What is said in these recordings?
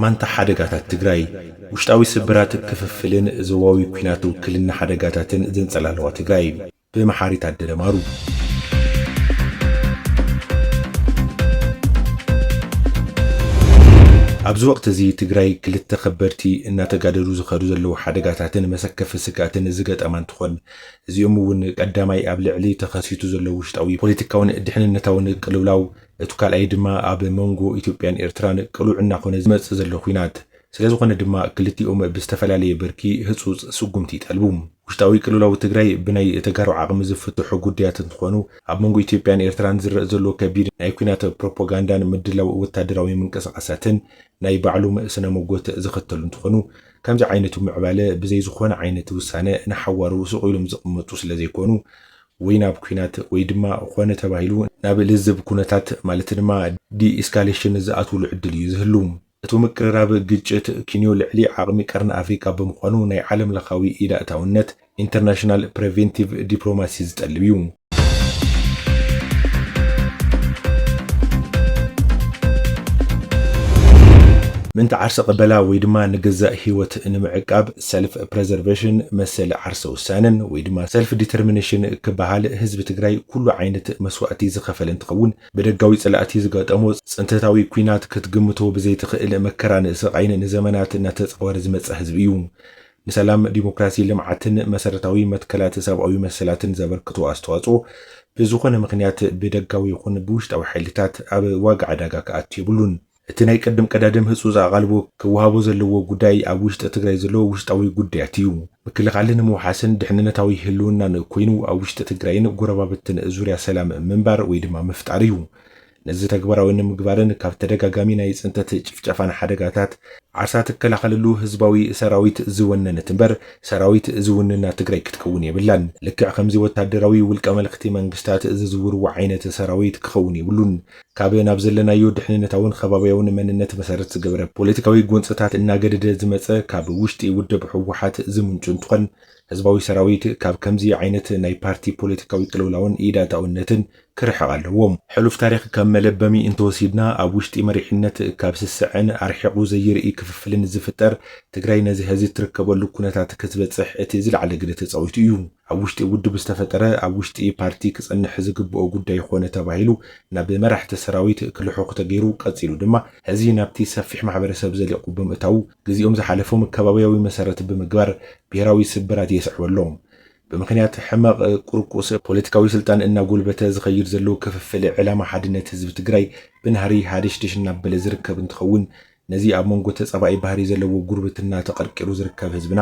ማንታ ሓደጋታት ትግራይ ውሽጣዊ ስብራት፣ ክፍፍልን ዞባዊ ኲናት ውክልና ሓደጋታትን ዘንፀላለዋ ትግራይ ብመሓሪ ታደለ ማሩ። ኣብዚ ወቕቲ እዚ ትግራይ ክልተ ከበድቲ እናተጋደዱ ዝኸዱ ዘለዉ ሓደጋታትን መሰከፊ ስግኣትን ዝገጠማ እንትኾን እዚኦም እውን ቀዳማይ ኣብ ልዕሊ ተኸሲቱ ዘሎ ውሽጣዊ ፖለቲካውን ድሕንነታውን ቅልውላው እቱ ካልኣይ ድማ ኣብ መንጎ ኢትዮጵያን ኤርትራን ቅሉዕ እናኾነ ዝመፅእ ዘሎ ኹናት ስለዝኾነ ድማ ክልቲኦም ብዝተፈላለየ ብርኪ ህፁፅ ስጉምቲ ይጠልቡ። ውሽጣዊ ቅልውላው ትግራይ ብናይ ተጋሩ ዓቕሚ ዝፍትሑ ጉዳያት እንትኾኑ ኣብ መንጎ ኢትዮጵያን ኤርትራን ዝረእ ዘሎ ከቢድ ናይ ኹናት ፕሮፖጋንዳን ምድላው ወታደራዊ ምንቅስቓሳትን ናይ ባዕሉም ስነ ሞጎት ዘኸተሉ እንትኾኑ ከምዚ ዓይነቱ ምዕባለ ብዘይ ዝኾነ ዓይነት ውሳነ ንሓዋሩ ሱቕ ኢሉም ዝቕመጡ ስለ ዘይኮኑ ወይ ናብ ኩናት ወይ ድማ ኾነ ተባሂሉ ናብ ልዝብ ኩነታት ማለት ድማ ዲኢስካሌሽን ዝኣትውሉ ዕድል እዩ ዝህሉ። እቱ ምቅርራብ ግጭት ኪንዮ ልዕሊ ዓቕሚ ቀርኒ ኣፍሪካ ብምዃኑ ናይ ዓለም ለኻዊ ኢድ ኣእታውነት፣ ኢንተርናሽናል ፕሬቬንቲቭ ዲፕሎማሲ ዝጠልብ እዩ። ምእንቲ ዓርሰ ቅበላ ወይ ድማ ንገዛእ ህይወት ንምዕቃብ ሰልፍ ፕሬዘርቬሽን መሰል ዓርሰ ውሳነን ወይ ድማ ሰልፍ ዲተርሚኔሽን ክበሃል ህዝቢ ትግራይ ኩሉ ዓይነት መስዋእቲ ዝኸፈለ እንትኸውን ብደጋዊ ፀላእቲ ዝገጠሞ ፅንተታዊ ኩናት ክትግምቶ ብዘይትኽእል መከራን ስቓይን ንዘመናት እናተፃወረ ዝመፀ ህዝቢ እዩ። ንሰላም፣ ዲሞክራሲ፣ ልምዓትን መሰረታዊ መትከላት ሰብኣዊ መሰላትን ዘበርክቶ ኣስተዋፅኦ ብዝኾነ ምኽንያት ብደጋዊ ይኹን ብውሽጣዊ ሓይልታት ኣብ ዋጋ ዕዳጋ ክኣቱ የብሉን። እቲ ናይ ቅድም ቀዳድም ህፁፅ ኣቓልቦ ክወሃቦ ዘለዎ ጉዳይ ኣብ ውሽጢ ትግራይ ዘሎ ውሽጣዊ ጉዳያት እዩ። ምክልኻልን ምውሓስን ድሕንነታዊ ህልውናን ኮይኑ ኣብ ውሽጢ ትግራይን ጎረባብትን ዙርያ ሰላም ምንባር ወይ ድማ ምፍጣር እዩ። ነዚ ተግባራዊ ንምግባርን ካብ ተደጋጋሚ ናይ ፅንተት ጭፍጨፋን ሓደጋታት ዓሳ ትከላኸለሉ ህዝባዊ ሰራዊት ዝወነነት እምበር ሰራዊት ዝውንና ትግራይ ክትከውን የብላን። ልክዕ ከምዚ ወታደራዊ ውልቀ መለኽቲ መንግስታት ዝዝውርዎ ዓይነት ሰራዊት ክኸውን የብሉን። ካብ ናብ ዘለናዮ ድሕንነታውን ኸባብያውን መንነት መሰረት ዝገበረ ፖለቲካዊ ጎንፅታት እናገደደ ዝመፀ ካብ ውሽጢ ውድብ ህወሓት ዝምንጩ እንትኾን ህዝባዊ ሰራዊት ካብ ከምዚ ዓይነት ናይ ፓርቲ ፖለቲካዊ ቅልውላውን ኢድ ኣእታውነትን ክርሕቕ ኣለዎ። ሕሉፍ ታሪኽ ከም መለበሚ እንተወሲድና ኣብ ውሽጢ መሪሕነት ካብ ስስዐን ኣርሒቑ ዘይርኢ ክፍፍልን ዝፍጠር ትግራይ ነዚ ሀዚ እትርከበሉ ኩነታት ክትበፅሕ እቲ ዝለዓለ ግደ ተፃዊቱ እዩ። ኣብ ውሽጢ ውድብ ዝተፈጠረ ኣብ ውሽጢ ፓርቲ ክፀንሕ ዝግበኦ ጉዳይ ኾነ ተባሂሉ ናብ መራሕቲ ሰራዊት ክልሑኽ ተገይሩ ቀፂሉ ድማ ሀዚ ናብቲ ሰፊሕ ማሕበረሰብ ዘሊቑ ብምእታዉ ግዚኦም ዝሓለፎም ከባብያዊ መሰረት ብምግባር ብሄራዊ ስብራት የስዕቦ ኣሎ። ብምኽንያት ሕመቕ ቁርቁስ ፖለቲካዊ ስልጣን እናጎልበተ ዝኸይድ ዘሎ ክፍፍል ዕላማ ሓድነት ህዝቢ ትግራይ ብናህሪ ሃደሽደሽ እናበለ ዝርከብ እንትኸውን ነዚ ኣብ መንጎ ተፃባኢ ባህሪ ዘለዎ ጉርብትና ተቐርቂሩ ዝርከብ ህዝብና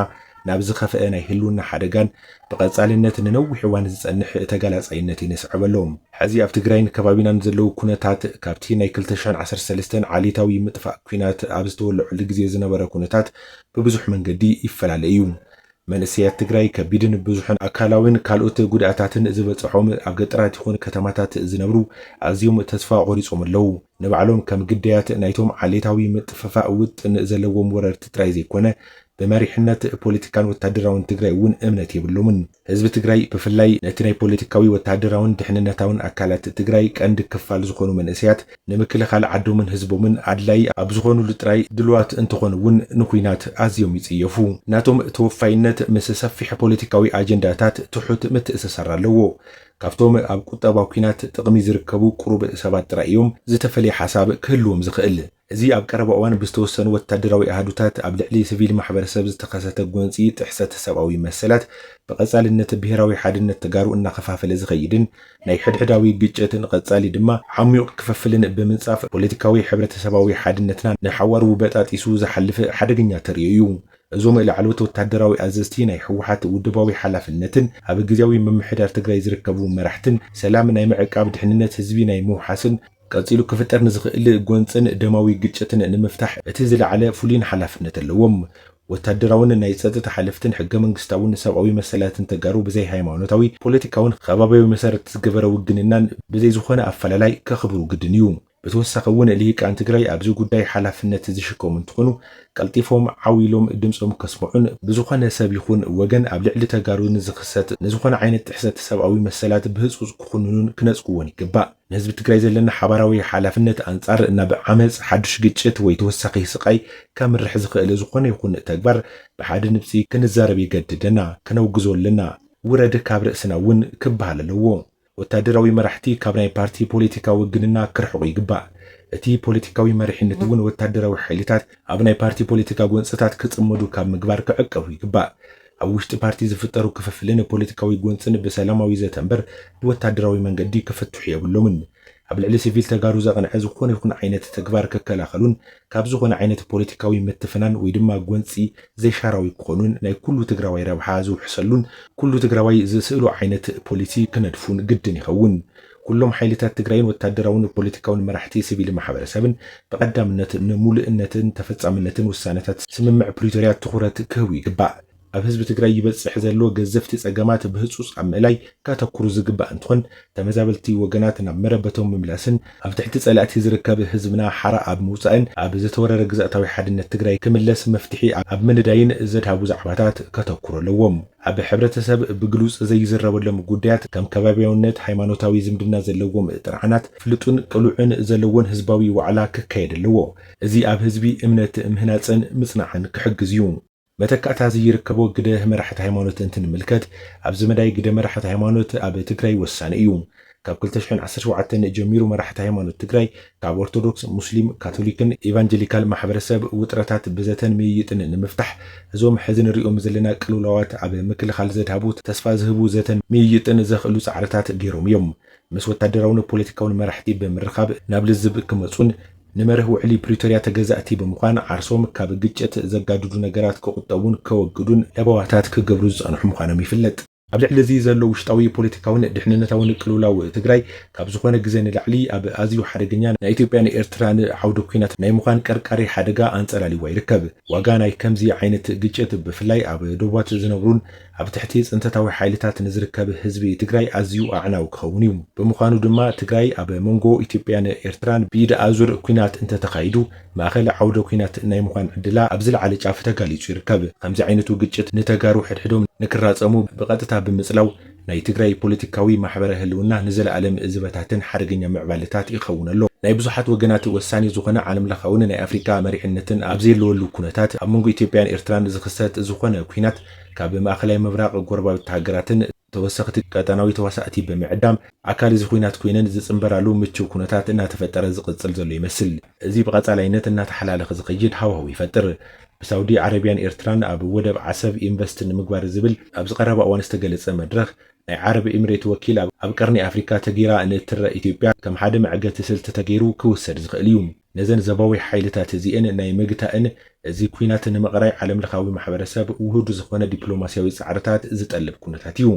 ናብ ዝኸፈኣ ናይ ህልውና ሓደጋን ብቐፃልነት ንነዊሕ እዋን ዝፀንሕ ተጋላፃይነትን የስዕብ ኣሎ። ሕዚ ኣብ ትግራይን ከባቢናን ዘለዉ ኩነታት ካብቲ ናይ ክልተ ሽሕን ዓሰርተ ሰለስተን ዓሌታዊ ምጥፋእ ኲናት ኣብ ዝተወለዐሉ ግዜ ዝነበረ ኩነታት ብብዙሕ መንገዲ ይፈላለ እዩ። መንእሰያት ትግራይ ከቢድን ብዙሕን ኣካላዊን ካልኦት ጉድኣታትን ዝበፀሖም ኣብ ገጠራት ይኹን ከተማታት ዝነብሩ ኣዝዮም ተስፋ ቆሪፆም ኣለው። ንባዕሎም ከም ግዳያት ናይቶም ዓሌታዊ ምጥፍፋእ ውጥን ዘለዎም ወረርቲ ጥራይ ዘይኮነ ብመሪሕነት ፖለቲካን ወታደራውን ትግራይ እውን እምነት የብሎምን። ህዝቢ ትግራይ ብፍላይ ነቲ ናይ ፖለቲካዊ፣ ወታደራውን ድሕንነታውን ኣካላት ትግራይ ቀንዲ ክፋል ዝኾኑ መንእሰያት ንምክልኻል ዓዶምን ህዝቦምን ኣድላዪ ኣብ ዝኾኑሉ ጥራይ ድሉዋት እንተኾኑ እውን ንኲናት ኣዝዮም ይጽየፉ። ናቶም ተወፋይነት ምስ ሰፊሕ ፖለቲካዊ ኣጀንዳታት ትሑት ምትእስሳር ኣለዎ። ካብቶም ኣብ ቁጠባ ኲናት ጥቕሚ ዝርከቡ ቁሩብ ሰባት ጥራይ እዮም ዝተፈለየ ሓሳብ ክህልዎም ዝኽእል። እዚ ኣብ ቀረባ እዋን ብዝተወሰኑ ወታደራዊ ኣሃዱታት ኣብ ልዕሊ ስቪል ማሕበረሰብ ዝተኸሰተ ጎንጺ ጥሕሰት ሰብኣዊ መሰላት ብቐጻልነት ብሄራዊ ሓድነት ተጋሩ እናኸፋፈለ ዝኸይድን ናይ ሕድሕዳዊ ግጭትን ቐፃሊ ድማ ዓሚዩቕ ክፍፍልን ብምንፃፍ ፖለቲካዊ ሕብረተሰባዊ ሓድነትና ንሓዋሩ በጣጢሱ ዝሓልፍ ሓደገኛ ተርእዮ እዩ። እዞም ላዕለዎት ወታደራዊ ኣዘዝቲ ናይ ህወሓት ውድባዊ ሓላፍነትን ኣብ ግዝያዊ ምምሕዳር ትግራይ ዝርከቡ መራሕትን ሰላም ናይ ምዕቃብ ድሕንነት ህዝቢ ናይ ምውሓስን ቀጺሉ ክፍጠር ንዝኽእል ጎንጽን ደማዊ ግጭትን ንምፍታሕ እቲ ዝለዓለ ፍሉይን ሓላፍነት ኣለዎም። ወታደራውን ናይ ጸጥታ ሓለፍትን ሕገ መንግስታውን ሰብኣዊ መሰላትን ተጋሩ ብዘይ ሃይማኖታዊ፣ ፖለቲካውን ኸባብያዊ መሰረት ዝገበረ ውግንናን ብዘይ ዝኾነ ኣፈላላይ ከኽብሩ ግድን እዩ። ብተወሳኺ እውን ልሂቃን ትግራይ ኣብዚ ጉዳይ ሓላፍነት ዝሽከሙ እንትኾኑ ቀልጢፎም ዓው ኢሎም ድምፆም ከስምዑን ብዝኾነ ሰብ ይኹን ወገን ኣብ ልዕሊ ተጋሩ ንዝኽሰት ንዝኾነ ዓይነት ጥሕሰት ሰብኣዊ መሰላት ብህፁፅ ክኹንኑን ክነፅግዎን ይግባእ። ንህዝቢ ትግራይ ዘለና ሓባራዊ ሓላፍነት ኣንጻር ናብ ዓመጽ፣ ሓዱሽ ግጭት ወይ ተወሳኺ ስቓይ ከምርሕ ዝኽእል ዝኾነ ይኹን ተግባር ብሓደ ንብጺ ክንዛረብ የገድደና። ከነውግዞ ኣለና። ውረድ ካብ ርእስና እውን ክበሃል ኣለዎ። ወታደራዊ መራሕቲ ካብ ናይ ፓርቲ ፖለቲካዊ ውግንና ክርሕቑ ይግባእ። እቲ ፖለቲካዊ መሪሕነት እውን ወታደራዊ ሓይልታት ኣብ ናይ ፓርቲ ፖለቲካ ጎንጽታት ክጽመዱ ካብ ምግባር ክዕቀቡ ይግባእ። ኣብ ውሽጢ ፓርቲ ዝፍጠሩ ክፍፍልን ፖለቲካዊ ጎንፅን ብሰላማዊ ዘተ እምበር ብወታደራዊ መንገዲ ክፍትሑ የብሎምን። ኣብ ልዕሊ ስቪል ተጋሩ ዘቕንዐ ዝኾነ ይኹን ዓይነት ተግባር ክከላኸሉን ካብ ዝኾነ ዓይነት ፖለቲካዊ ምትፍናን ወይ ድማ ጎንፂ ዘይሻራዊ ክኾኑን ናይ ኩሉ ትግራዋይ ረብሓ ዝውሕሰሉን ኩሉ ትግራዋይ ዝስእሎ ዓይነት ፖሊሲ ክነድፉን ግድን ይኸውን። ኩሎም ሓይልታት ትግራይን ወታደራውን ፖለቲካውን መራሕቲ ስቪል ማሕበረሰብን ብቐዳምነት ንሙሉእነትን ተፈፃምነትን ውሳነታት ስምምዕ ፕሪቶርያ ትኹረት ክህቡ ይግባእ። ኣብ ህዝቢ ትግራይ ይበፅሕ ዘሎ ገዘፍቲ ፀገማት ብህፁፅ ኣብ ምእላይ ከተኩሩ ዝግባእ እንትኾን ተመዛበልቲ ወገናት ናብ መረበቶም ምምላስን ኣብ ትሕቲ ፀላእቲ ዝርከብ ህዝብና ሓራ ኣብ ምውፃእን ኣብ ዝተወረረ ግዝኣታዊ ሓድነት ትግራይ ክምለስ መፍትሒ ኣብ ምንዳይን ዘድሃቡ ዛዕባታት ከተኩሩ ኣለዎም። ኣብ ሕብረተሰብ ብግሉጽ ዘይዝረበሎም ጉዳያት ከም ከባብያውነት፣ ሃይማኖታዊ ዝምድና ዘለዎም ጥርዓናት፣ ፍሉጥን ቅሉዕን ዘለዎን ህዝባዊ ዋዕላ ክካየድ ኣለዎ። እዚ ኣብ ህዝቢ እምነት ምህናጽን ምጽናዕን ክሕግዝ እዩ። መተካእታ ዝይርከቦ ግደ መራሕቲ ሃይማኖት እንትንምልከት፣ ኣብዚ መዳይ ግደ መራሕቲ ሃይማኖት ኣብ ትግራይ ወሳኒ እዩ። ካብ ክልተ ሽሕን ዓሰርተ ሸውዓተን ጀሚሩ መራሕቲ ሃይማኖት ትግራይ ካብ ኦርቶዶክስ፣ ሙስሊም፣ ካቶሊክን ኤቫንጀሊካል ማሕበረሰብ ውጥረታት ብዘተን ምይይጥን ንምፍታሕ እዞም ሕዚ ንሪኦም ዘለና ቅልውላዋት ኣብ ምክልኻል ዘድሃቡ ተስፋ ዝህቡ ዘተን ምይይጥን ዘኽእሉ ፃዕርታት ገይሮም እዮም። ምስ ወታደራውን ፖለቲካውን መራሕቲ ብምርኻብ ናብ ልዝብ ክመፁን ንመርህ ውዕሊ ፕሪቶሪያ ተገዛእቲ ብምዃን ዓርሶም ካብ ግጭት ዘጋድዱ ነገራት ክቑጠቡን ከወግዱን ለበዋታት ክገብሩ ዝፀንሑ ምዃኖም ይፍለጥ። ኣብ ልዕሊ እዚ ዘሎ ውሽጣዊ ፖለቲካውን ድሕንነታውን ቅልውላው ትግራይ ካብ ዝኾነ ግዘ ንላዕሊ ኣብ ኣዝዩ ሓደገኛ ናይ ኢትዮጵያን ኤርትራን ዓውደ ኲናት ናይ ምዃን ቀርቃሪ ሓደጋ ኣንፀላሊዋ ይርከብ። ዋጋ ናይ ከምዚ ዓይነት ግጭት ብፍላይ ኣብ ዶባት ዝነብሩን ኣብ ትሕቲ ፅንተታዊ ሓይልታት ንዝርከብ ህዝቢ ትግራይ ኣዝዩ ኣዕናዊ ክኸውን እዩ። ብምዃኑ ድማ ትግራይ ኣብ መንጎ ኢትዮጵያን ኤርትራን ብኢድ ኣዙር ኲናት እንተተኻይዱ፣ ማእኸል ዓውደ ኲናት ናይ ምዃን ዕድላ ኣብ ዝለዓለ ጫፍ ተጋሊፁ ይርከብ። ኸምዚ ዓይነቱ ግጭት ንተጋሩ ሕድሕዶም ንክራፀሙ ብቐጥታ ብምፅላው ናይ ትግራይ ፖለቲካዊ ማሕበረ ህልውና ንዘለኣለም ዝበታትን ሓደገኛ ምዕባለታት ይኸውን ኣሎ። ናይ ብዙሓት ወገናት ወሳኒ ዝኾነ ዓለም ለኻውን ናይ ኣፍሪካ መሪሕነትን ኣብ ዘየለወሉ ኩነታት ኣብ መንጎ ኢትዮጵያን ኤርትራን ዝኽሰት ዝኾነ ኲናት ካብ ማእኸላይ ምብራቕ ጎረባብቲ ሃገራትን ተወሰኽቲ ቀጠናዊ ተዋሳእቲ ብምዕዳም ኣካል እዚ ኹናት ኮይነን ዝፅምበራሉ ምችው ኩነታት እናተፈጠረ ዝቕፅል ዘሎ ይመስል። እዚ ብቐፃላይነት እናተሓላለኸ ዝኸይድ ሃዋህው ይፈጥር። ብሳውዲ ዓረቢያን ኤርትራን ኣብ ወደብ ዓሰብ ኢንቨስት ንምግባር ዝብል ኣብዚ ቀረባ እዋን ዝተገለፀ መድረኽ፣ ናይ ዓረብ ኢምሬት ወኪል ኣብ ቀርኒ ኣፍሪካ ተገይራ ንእትረእ ኢትዮጵያ ከም ሓደ መዕገቲ ስልቲ ተገይሩ ክውሰድ ዝኽእል እዩ። ነዘን ዘባዊ ሓይልታት እዚኤን ናይ ምግታእን እዚ ኩናት ንምቕራይ ዓለም ለኻዊ ማሕበረሰብ ውሁድ ዝኾነ ዲፕሎማሲያዊ ፃዕርታት ዝጠልብ ኩነታት እዩ።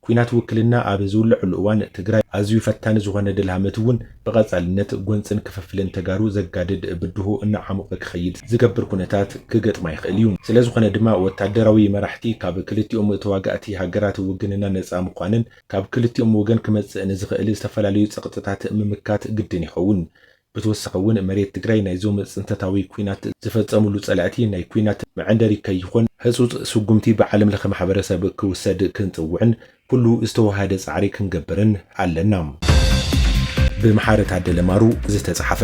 ኩናት ውክልና ኣብ ዝውለዐሉ እዋን ትግራይ ኣዝዩ ፈታኒ ዝኾነ ደልሃመት እውን ብቐፃልነት ጎንፅን ክፍፍልን ተጋሩ ዘጋድድ ብድሆ እናዓሞቐ ክኸይድ ዝገብር ኩነታት ክገጥማ ይኽእል እዩ። ስለዝኾነ ድማ ወታደራዊ መራሕቲ ካብ ክልቲኦም ተዋጋእቲ ሃገራት ውግንና ነፃ ምዃንን ካብ ክልቲኦም ወገን ክመፅእ ንዝኽእል ዝተፈላለዩ ፀቕጥታት ምምካት ግድን ይኸውን። ብተወሳኺ እውን መሬት ትግራይ ናይዞም ፅንተታዊ ኲናት ዝፈፀምሉ ፀላእቲ ናይ ኲናት መዐንደሪ ከይኾን ህፁፅ ስጉምቲ ብዓለም ለኸ ማሕበረሰብ ክውሰድ ክንፅውዕን ኩሉ ዝተወሃደ ፃዕሪ ክንገብርን ኣለና። ብምሓረ ታደለ ማሩ ዝተፅሓፈ።